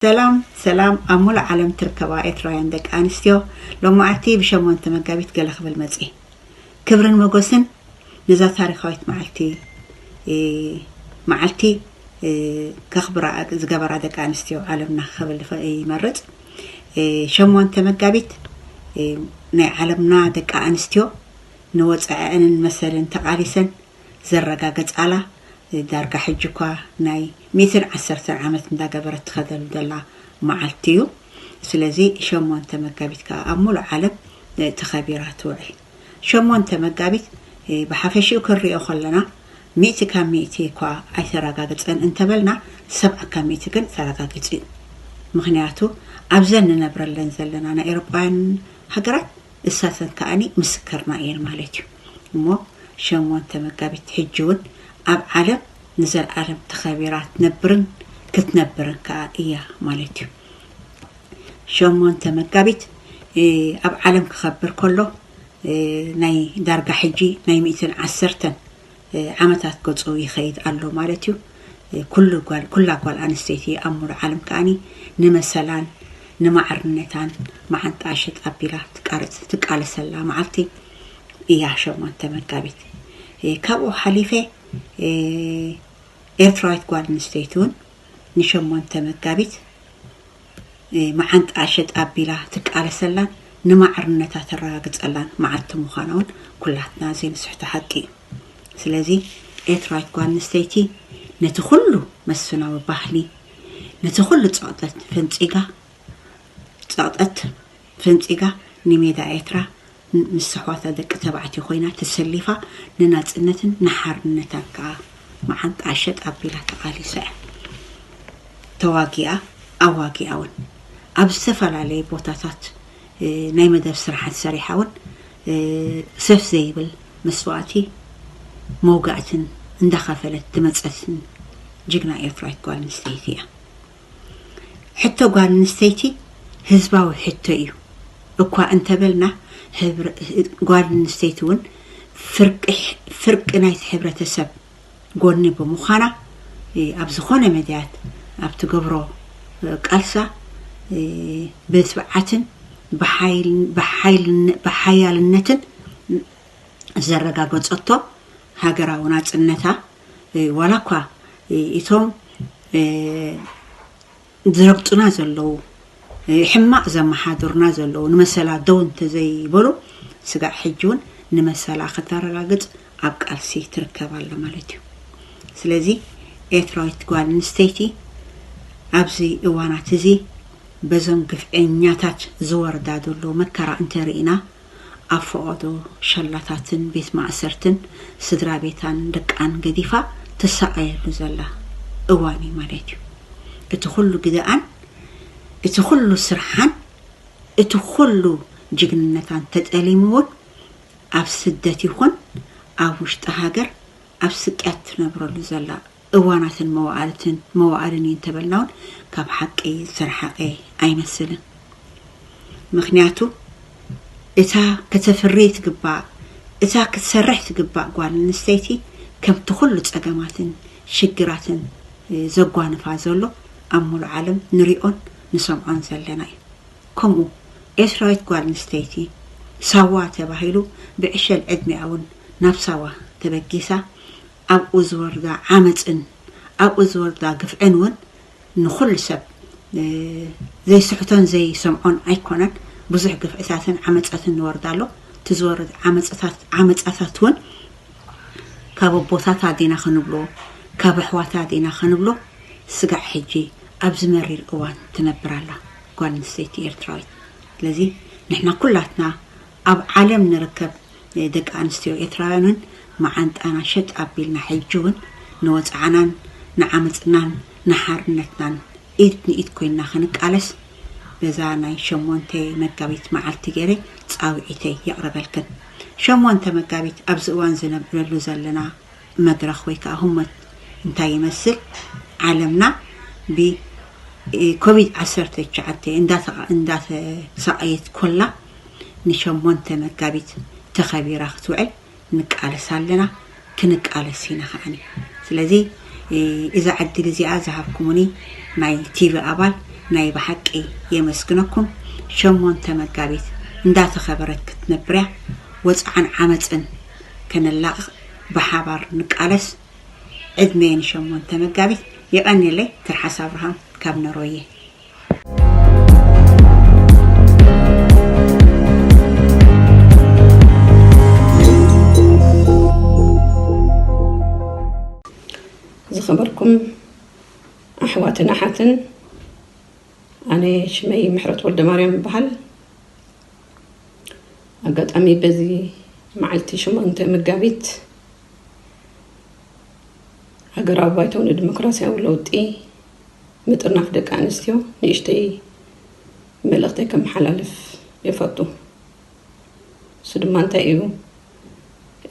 ሰላም ሰላም ኣብ ሙሉእ ዓለም ትርከባ ኤትራውያን ደቂ ኣንስትዮ ሎማዓቲ ብ ሸሞንተ መጋቢት ገለ ክብል መጽየ ክብርን መጎስን ነዛ ታሪኻዊት ማዓልቲ ማዓልቲ ከኽብራ ዝገበራ ደቂ ኣንስትዮ ዓለምና ክብል ይመርጽ ሸሞንተ መጋቢት ናይ ዓለምና ደቂ ኣንስትዮ ንወጽዐኣንን መሰልን ተቃሊሰን ዘረጋገጻላ ዳርጋ ሕጂ እኳ ናይ ሚእትን ዓሰርተን ዓመት እንዳገበረት ትኸደሉ ዘላ መዓልቲ እዩ ስለዚ ሸሞንተ መጋቢት ከኣ ኣብ ሙሉእ ዓለም ተኸቢራ ትውዕል ሸሞንተ መጋቢት ብሓፈሽኡ ክንሪኦ ከለና ሚእቲ ካብ ሚእቲ እኳ ኣይተረጋገጸን እንተበልና ሰብዓ ካብ ሚእቲ ግን ተረጋጊጹ እዩ ምኽንያቱ ኣብዘን ንነብረለን ዘለና ናይ ኤሮጳውያን ሃገራት ንሳተን ከኣ ምስክርና እየን ማለት እዩ እሞ ሸሞንተ መጋቢት ሕጂ ውን ኣብ ዓለም ንዘልኣለም ተኸቢራ ትነብርን ክትነብርን ከኣ እያ ማለት እዩ ሸሞንተ መጋቢት ኣብ ዓለም ክኸብር ከሎ ናይ ዳርጋ ሕጂ ናይ ሚእትን ዓሰርተን ዓመታት ገጹ ይኸይድ ኣሎ ማለት እዩ ኩሉ ጓል ኩላ ጓል ኣንስተይቲ ኣብ ሙሉእ ዓለም ከዓኒ ንመሰላን ንማዕርነታን መዓንጣ ሽጥ ኣቢላ ትቃረጽ ትቃለሰላ መዓልቲ እያ ሸሞንተ መጋቢት ካብኡ ሓሊፈ ኤርትራዊት ጓል ኣንስተይቲ እውን ንሸሞንተ መጋቢት መዓንጣኣ ሸጥ ኣቢላ ትቃለሰላን ንማዕርነታ ተረጋግጸላን መዓልቲ ምዃና'ውን ኩላትና ዘይንስሕቶ ሓቂ እዩ። ስለዚ ኤርትራዊት ጓል ኣንስተይቲ ነቲ ኩሉ መስፍናዊ ባህሊ፣ ነቲ ኩሉ ጸቕጠት ፈንጺጋ፣ ጸቕጠት ፈንጺጋ ንሜዳ ኤርትራ ምስ ኣሕዋታ ደቂ ተባዕትዮ ኮይና ተሰሊፋ ንናጽነትን ንሓርነታን ከኣ መዓንጣኣ ሸጥ ኣቢላ ተቓሊሳ'ያ። ተዋጊኣ ኣዋጊኣ'ውን። ኣብ ዝተፈላለየ ቦታታት ናይ መደብ ስራሓት ሰሪሓ'ውን ሰፍ ዘይብል መስዋእቲ መውጋእትን እንዳኸፈለት ዝመጸትን ጅግና ኤርትራዊት ጓል ኣንስተይቲ'ያ። ሕቶ ጓል ኣንስተይቲ ህዝባዊ ሕቶ እዩ እኳ እንተበልና ጓል ኣንስተይቲ እውን ፍርቂ ናይቲ ሕብረተሰብ ጎኒ ብምዃና ኣብ ዝኾነ መዳያት ኣብ ትገብሮ ቃልሳ ብትብዓትን ብሓያልነትን ዘረጋገፀቶ ሃገራዊ ናፅነታ ዋላ እኳ እቶም ዝረግጡና ዘለዉ ሕማቕ ዘመሓድሩና ዘለዉ ንመሰላ ደው እንተዘይበሉ ስጋዕ ሕጂ እውን ንመሰላ ክተረጋግፅ ኣብ ቃልሲ ትርከብ ኣላ ማለት እዩ ስለዚ ኤርትራዊት ጓል ኣንስተይቲ ኣብዚ እዋናት እዚ በዞም ግፍዐኛታት ዝወርዳ ዘሎ መከራ እንተርኢና ኣብ ፈቐዶ ሸላታትን ቤት ማእሰርትን ስድራ ቤታን ደቃን ገዲፋ ትሳቐየሉ ዘላ እዋን እዩ ማለት እዩ። እቲ ኹሉ ግደኣን፣ እቲ ኹሉ ስርሓን፣ እቲ ኹሉ ጅግንነታን ተጠሊሙ እውን ኣብ ስደት ይኹን ኣብ ውሽጢ ሃገር ኣብ ስቅያት ትነብረሉ ዘላ እዋናትን መዋዕልትን መዋዕልን እዩ እንተበልናውን ካብ ሓቂ ዝተርሓቀ ኣይመስልን ምክንያቱ እታ ከተፍሪ ትግባእ እታ ክትሰርሕ ትግባእ ጓል ኣንስተይቲ ከምቲ ኩሉ ጸገማትን ሽግራትን ዘጓንፋ ዘሎ ኣብ ሙሉ ዓለም ንሪኦን ንሰምዖን ዘለና እዩ ከምኡ ኤርትራዊት ጓል ኣንስተይቲ ሳዋ ተባሂሉ ብዕሸል ዕድሚኣ እውን ናብ ሳዋ ተበጊሳ ኣብኡ ዝወርዳ ዓመጽን ኣብኡ ዝወርዳ ግፍዕን ውን ንኹሉ ሰብ ዘይስሕቶን ዘይሰምዖን ኣይኮነን። ብዙሕ ግፍዕታትን ዓመጸትን ንወርዳ ኣሎ። እቲ ዝወርድ ዓመጽታት ዓመጻታት ውን ካብ ኣቦታታ ዲና ክንብሎ ካብ ኣሕዋታ ዲና ክንብሎ ስጋዕ ሕጂ ኣብዚ መሪር እዋን ትነብር ኣላ ጓል ኣንስተይቲ ኤርትራዊት። ስለዚ ንሕና ኩላትና ኣብ ዓለም ንርከብ። ደቂ ኣንስትዮ ኤትራውያን ውን ማዓንጣና ሸጥ ኣቢልና ሕጂ ውን ንወጽዓናን ንዓመጽናን ንሓርነትናን ኢድ ንኢድ ኮይንና ክንቃለስ በዛ ናይ ሸሞንተ መጋቢት ማዓልቲ ጌረ ጻዊዒተይ የቅርበልክን ሸሞንተ መጋቢት ኣብዚ እዋን ዝነብዕለሉ ዘለና መድረኽ ወይ ከኣ ህሞት እንታይ ይመስል? ዓለምና ብኮቪድ ዓሰርተ ትሽዓተ እንዳተሳቐየት ኮላ ንሸሞንተ መጋቢት ተኸቢራ ክትውዕል ንቃለስ ኣለና ክንቃለስ ኢና ከኣ። ስለዚ እዛ ዕድል እዚኣ ዝሃብኩሙኒ ናይ ቲቪ ኣባል ናይ ብሓቂ የመስግነኩም። ሸሞንተ መጋቢት እንዳተኸበረት ክትነብርያ ወጽዓን ዓመጽን ከነላቕቕ ብሓባር ንቃለስ ዕድሜ ን ሸሞንተ መጋቢት። የቀኔለይ ትርሓስ ኣብርሃም ካብ ነሮዬ። ዝኸበርኩም ኣሕዋትን ኣሓትን ኣነ ሽመይ ምሕረት ወልደማርያም ይበሃል። ኣጋጣሚ በዚ መዓልቲ ሸሞንተ መጋቢት ሃገራዊ ባይቶ ንዲሞክራሲያዊ ለውጢ ምጥርናፍ ደቂ ኣንስትዮ ንእሽተይ መልእኽተይ ከመሓላልፍ ይፈቱ እሱ ድማ እንታይ እዩ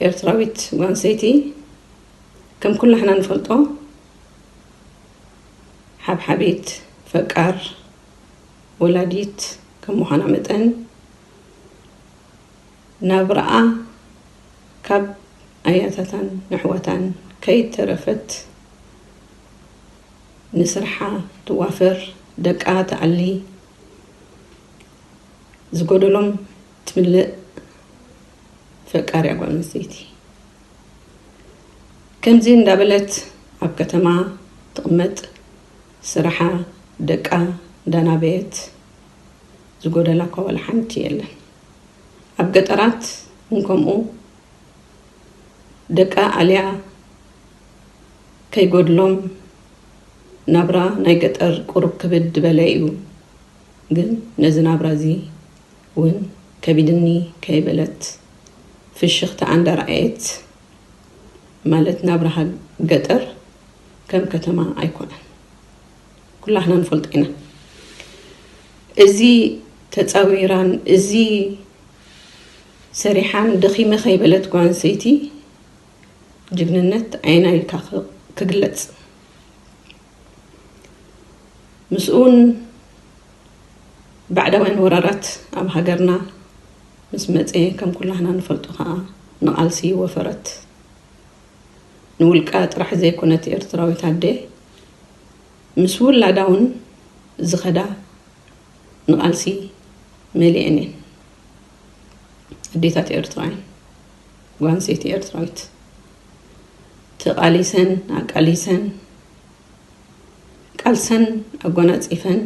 ኤርትራዊት ጓንሰይቲ ከም ኩላሕና ንፈልጦ ሓብሓቢት ፈቃር ወላዲት ከም ምዃና መጠን ናብራኣ ካብ ኣያታታን ንኣሕዋታን ከይተረፈት ንስርሓ ትዋፈር፣ ደቃ ትኣሊ፣ ዝጎደሎም ትምልእ ፈቃሪያ ጓል ኣንስተይቲ ከምዚ እንዳበለት ኣብ ከተማ ትቕመጥ ስርሓ ደቃ እንዳናበየት ዝጎደላ እኳ ዋላ ሓንቲ የለን ኣብ ገጠራት ውን ከምኡ ደቃ ኣልያ ከይጎድሎም ናብራ ናይ ገጠር ቁሩብ ክብድ በለ እዩ ግን ነዚ ናብራ እዚ ውን ከቢድኒ ከይበለት ፍሽኽታኣ እንዳርኣየት ማለት ናብራ ገጠር ከም ከተማ ኣይኮነን ኩላህና ንፈልጦ ኢና እዚ ተፃዊራን እዚ ሰሪሓን ደኺመ ከይበለት ጓል ኣንስተይቲ ጅግንነት ዓይና ኢልካ ክግለፅ ምስኡውን ባዕዳውያን ወራራት ኣብ ሃገርና ምስ መጸ ከም ኩላህና ንፈልጦ ከኣ ንቓልሲ ወፈረት ንውልቃ ጥራሕ ዘይኮነት ኤርትራዊት ኣደ ምስ ውላዳ ውን ዝኸዳ ንቓልሲ መሊኤን እየን። ኣዴታት ኤርትራ እየን። ጓል ኣንስተይቲ ኤርትራዊት ተቓሊሰን ኣቃሊሰን ቃልሰን ኣጎናጺፈን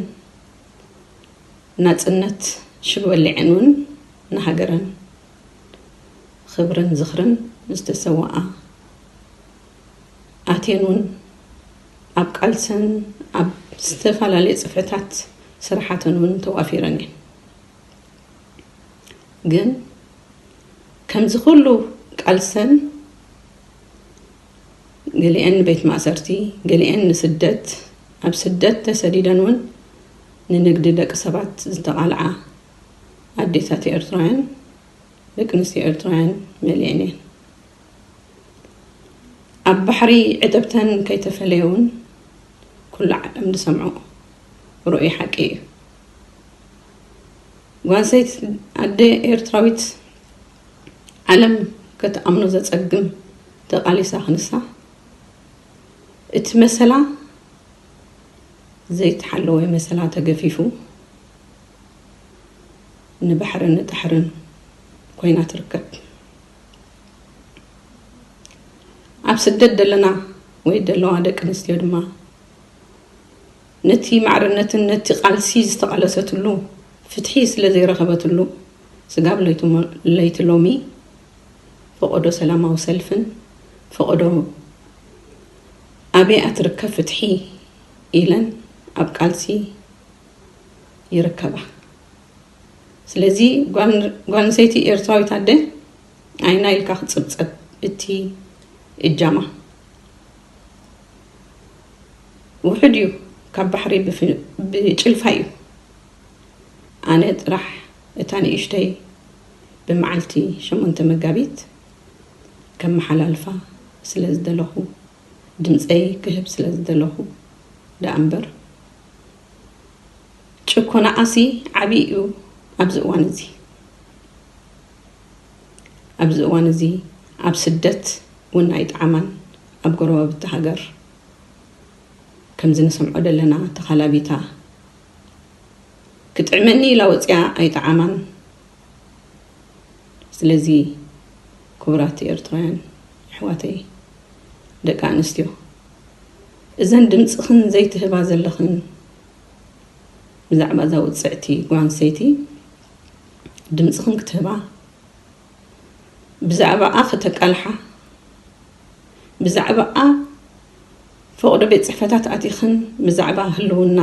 ናጽነት ሽግበሊዕን ውን ንሃገረን ኽብርን ዝኽርን ዝተሰወኣ ኣቴን ውን ኣብ ቃልሰን ኣብ ዝተፋላለየ ጽፍሕታት ስራሓተን ውን ተዋፊረን እየን ግን ከምዚ ኹሉ ቃልሰን ገሊኤን ንቤት ማእሰርቲ፣ ገሊኤን ንስደት፣ ኣብ ስደት ተሰዲደን ውን ንንግዲ ደቂ ሰባት ዝተቓልዓ ኣዴታት ኤርትራውያን፣ ደቂ ኣንስትዮ ኤርትራውያን መሊኤን እየን። ኣብ ባሕሪ ዕትብተን ከይተፈለየ ውን ኩሉ ዓለም ዝሰምዖ ርኡይ ሓቂ እዩ። ጓል ኣንስተይቲ ኣደ ኤርትራዊት፣ ዓለም ከትኣምኖ ዘጸግም ተቓሊሳ ክንሳ እቲ መሰላ ዘይተሓለወ መሰላ ተገፊፉ ንባሕርን ንጣሕርን ኮይና ትርከብ ኣብ ስደት ደለና ወይ ደለዋ ደቂ ኣንስትዮ ድማ ነቲ ማዕርነትን ነቲ ቃልሲ ዝተቓለሰትሉ ፍትሒ ስለ ዘይረኸበትሉ ስጋብ ለይቲ ሎሚ ፈቖዶ ሰላማዊ ሰልፍን ፈቖዶ ኣበይ'ያ ትርከብ ፍትሒ ኢለን ኣብ ቃልሲ ይርከባ። ስለዚ ጓልንሰይቲ ኤርትራዊት ኣደ ኣይና ኢልካ ክትጽብጸብ እቲ እጃማ። ውሑድ እዩ ካብ ባሕሪ ብጭልፋ እዩ ኣነ ጥራሕ እታ ንእሽተይ ብመዓልቲ ሸሞንተ መጋቢት ከመሓላልፋ ስለ ዝደለኹ ድምፀይ ክህብ ስለ ዝደለኹ ደኣ እምበር ጭኮናኣሲ ዓብዪ እዩ ኣብዚ እዋን እዚ ኣብዚ እዋን እዚ ኣብ ስደት ውን ኣይጠዓማን ኣብ ጎረባብቲ ሃገር ከምዚ ንሰምዖ ደለና ተኻላቢታ ክጥዕመኒ ኢላ ወጽያ ኣይጠዓማን ስለዚ ክቡራት ኤርትራውያን ኣሕዋተይ ደቂ ኣንስትዮ እዘን ድምጽኽን ዘይትህባ ዘለኽን ብዛዕባ እዛ ውጽዕቲ ጓንሰይቲ ድምጽኽን ክትህባ፣ ብዛዕባኣ ከተቃልሓ፣ ብዛዕባኣ ፈቕዶ ቤት ጽሕፈታት ኣቲኽን ብዛዕባ ህልውና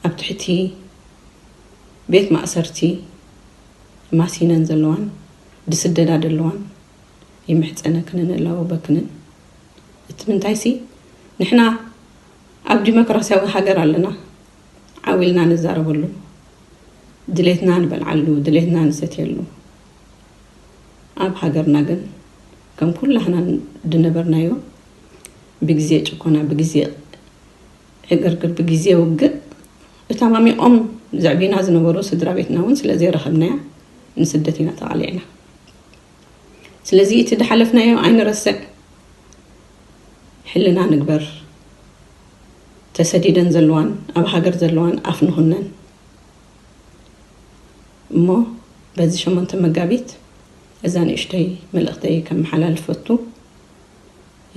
ኣብ ትሕቲ ቤት ማእሰርቲ ማሲነን ዘለዋን ድስደዳ ደለዋን ይምሕጸነክንን እላወበክንን እቲ ምንታይሲ ንሕና ኣብ ዲሞክራሲያዊ ሃገር ኣለና። ዓው ኢልና ንዛረበሉ፣ ድሌትና ንበልዓሉ፣ ድሌትና ንሰትየሉ። ኣብ ሃገርና ግን ከም ኩላህና ድነበርናዮ ብግዜ ጭኮና፣ ብግዜ ዕግርግር፣ ብግዜ ውግእ እተማሚቖም ዘዕብዩና ዝነበሩ ስድራ ቤትና እውን ስለ ዘይረኸብናያ ንስደት ኢና ተቓሊዕና። ስለዚ እቲ ድሓለፍናዮ ኣይንረስዕ፣ ሕልና ንግበር። ተሰዲደን ዘለዋን ኣብ ሃገር ዘለዋን ኣፍ ንኹነን እሞ በዚ ሸሞንተ መጋቢት እዛ ንእሽተይ መልእኽተይ ከመሓላልፍ ፈቱ።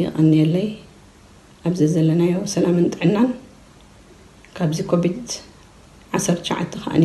የቐንየለይ ኣብ ዘዘለናዮ ሰላምን ጥዕናን ካብዚ ኮቪድ ዓሰርተ ትሽዓተ ከኣኒ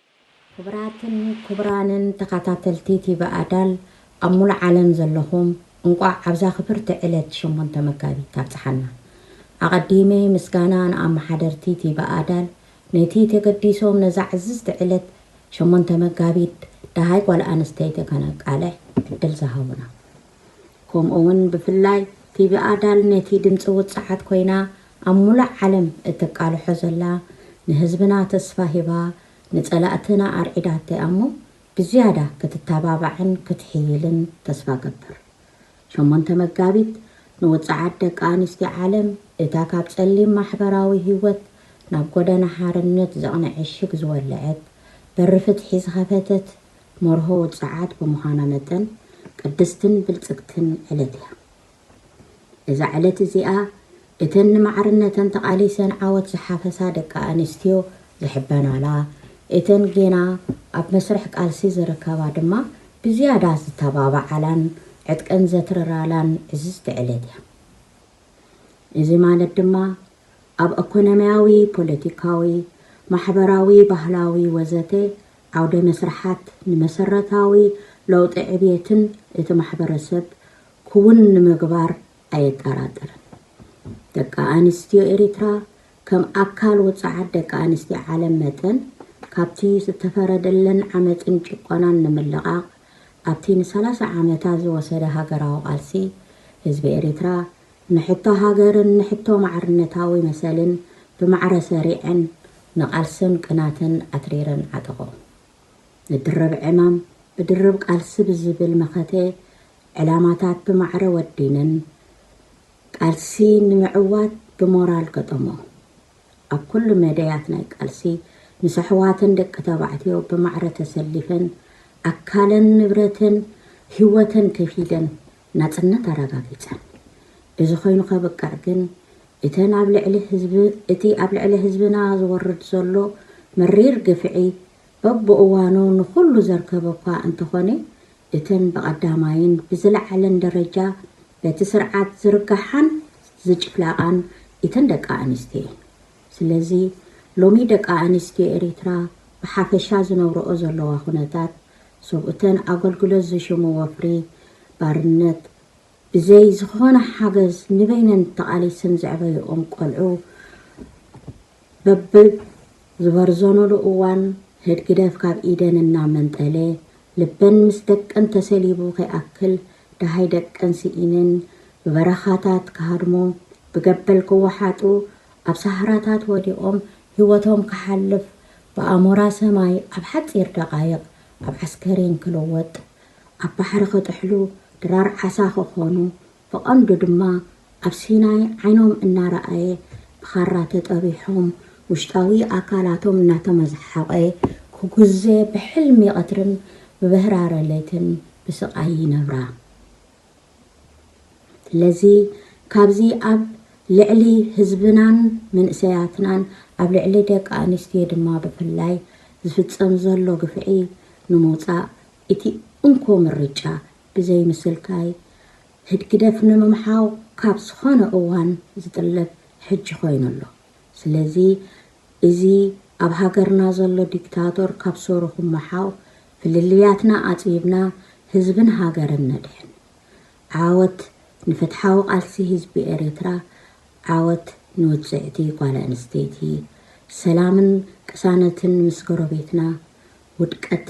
ክብራትን ክቡራንን ተኻታተልቲ ቲቪ ኣዳል ኣብ ሙሉእ ዓለም ዘለኹም እንቋዕ ኣብዛ ክብርቲ ዕለት ሸሞንተ መጋቢት ኣብጽሓና። ኣቐዲመ ምስጋና ንኣመሓደርቲ ቲቪ ኣዳል ነቲ ተገዲሶም ነዛ ዕዝዝቲ ዕለት ሸሞንተ መጋቢት ደሃይ ጓል ኣንስተይቲ ከነቃልሕ ዕድል ዝሃቡና። ከምኡ'ውን ብፍላይ ቲቪ ኣዳል ነቲ ድምጺ ውጽዓት ኮይና ኣብ ሙላእ ዓለም እትቃልሖ ዘላ ንህዝብና ተስፋ ሂባ ንጸላእትና ኣርዒዳቶ እያ'ሞ ብዝያዳ ክትታባባዕን ክትሕይልን ተስፋ እገብር። ሸሞንተ መጋቢት ንውጽዓት ደቂ ኣንስትዮ ዓለም እታ ካብ ጸሊም ማሕበራዊ ህይወት ናብ ጎደና ሓርነት ዘቕንዕ ዕሽግ ዝወለዐት በሪ ፍትሒ ዝኸፈተት መርሆ ውጽዓት ብምዃና መጠን ቅድስትን ብልጽግትን ዕለት እያ። እዛ ዕለት እዚኣ እተን ንማዕርነተን ተቓሊሰን ዓወት ዝሓፈሳ ደቂ ኣንስትዮ ዝሕበናላ፣ እተን ጌና ኣብ መስርሕ ቃልሲ ዝርከባ ድማ ብዝያዳ ዝተባብዓላን ዕጥቀን ዘትርራላን ዕዝዝቲ ዕለት እያ። እዚ ማለት ድማ ኣብ ኣኮኖሚያዊ፣ ፖለቲካዊ፣ ማሕበራዊ፣ ባህላዊ ወዘተ ዓውደ መስርሓት ንመሰረታዊ ለውጢ ዕብየትን እቲ ማሕበረሰብ ክውን ንምግባር ኣየጠራጥርን። ደቂ ኣንስትዮ ኤሪትራ ከም ኣካል ውጹዓት ደቂ ኣንስትዮ ዓለም መጠን ካብቲ ዝተፈረደለን ዓመጽን ጭቆናን ንምልቓቕ ኣብቲ ንሰላሳ ዓመታት ዝወሰደ ሃገራዊ ቃልሲ ህዝቢ ኤሪትራ ንሕቶ ሃገርን ንሕቶ ማዕርነታዊ መሰልን ብማዕረ ሰሪዐን ንቓልስን ቅናትን ኣትሪረን ዓጠቖ። ንድርብ ዕማም ብድርብ ቃልሲ ብዝብል መኸተ ዕላማታት ብማዕረ ወዲንን ቃልሲ ንምዕዋት ብሞራል ገጠሞ። ኣብ ኩሉ መደያት ናይ ቃልሲ ምስ ኣሕዋትን ደቂ ተባዕትዮ ብማዕረ ተሰሊፈን ኣካለን ንብረትን ህይወተን ከፊለን ናጽነት ኣረጋጊጸን። እዚ ኮይኑ ከብቅዕ ግን እተን ኣብ ልዕሊ ህዝቢ እቲ ኣብ ልዕሊ ህዝብና ዝወርድ ዘሎ መሪር ግፍዒ በብእዋኑ ንኹሉ ዘርከበኳ እንተኾነ እተን ብቐዳማይን ብዝለዓለን ደረጃ በቲ ስርዓት ዝርገሓን ዝጭፍላቓን ኢተን ደቂ ኣንስትዮ ኢየን። ስለዚ ሎሚ ደቂ ኣንስትዮ ኤሪትራ ብሓፈሻ ዝነብረኦ ዘለዋ ኩነታት ሰብኡተን ኣገልግሎት ዝሽሙ ወፍሪ ባርነት፣ ብዘይ ዝኾነ ሓገዝ ንበይነን ተቓሊሰን ዘዕበየኦም ቆልዑ፣ በብዝበርዘኑሉ እዋን ህድግደፍ ካብ ኢደን እናመንጠለ ልበን ምስ ደቀን ተሰሊቡ ከይኣክል ደሃይ ደቀን ስኢነን ብበረኻታት ክሃድሙ፣ ብገበል ክወሓጡ፣ ኣብ ሳህራታት ወዲቖም ህይወቶም ክሓልፍ፣ ብኣሞራ ሰማይ ኣብ ሓጺር ደቓይቕ ኣብ ዓስከሬን ክልወጥ፣ ኣብ ባሕሪ ክጥሕሉ፣ ድራር ዓሳ ክኾኑ፣ ብቐንዱ ድማ ኣብ ሲናይ ዓይኖም እናረኣየ ብኻራ ተጠቢሖም ውሽጣዊ ኣካላቶም እናተመዝሓቖ ክጉዘ ብሕልሚ ቐትርን ብበህራረ ለይትን ብስቓይ ይነብራ። ስለዚ ካብዚ ኣብ ልዕሊ ህዝብናን መንእሰያትናን ኣብ ልዕሊ ደቂ ኣንስትዮ ድማ ብፍላይ ዝፍጸም ዘሎ ግፍዒ ንምውጻእ እቲ እንኮ ምርጫ ብዘይ ምስልካይ፣ ህድግደፍ ንምምሓው ካብ ዝኾነ እዋን ዝጥለብ ሕጂ ኮይኑ ኣሎ። ስለዚ እዚ ኣብ ሃገርና ዘሎ ዲክታቶር ካብ ሱሩ ክመሓው፣ ፍልልያትና ኣጽቢብና ህዝብን ሃገርን ነድሕን። ዓወት ንፍትሓዊ ቃልሲ ህዝቢ ኤሪትራ፣ ዓወት ንውጽዕቲ ጓል ኣንስተይቲ፣ ሰላምን ቅሳነትን ምስ ጎረቤትና፣ ውድቀት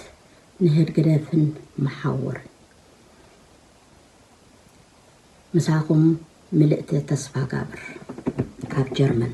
ንህድግደፍን መሓውር ምሳኹም ምልእቲ ተስፋጋብር ካብ ጀርመን።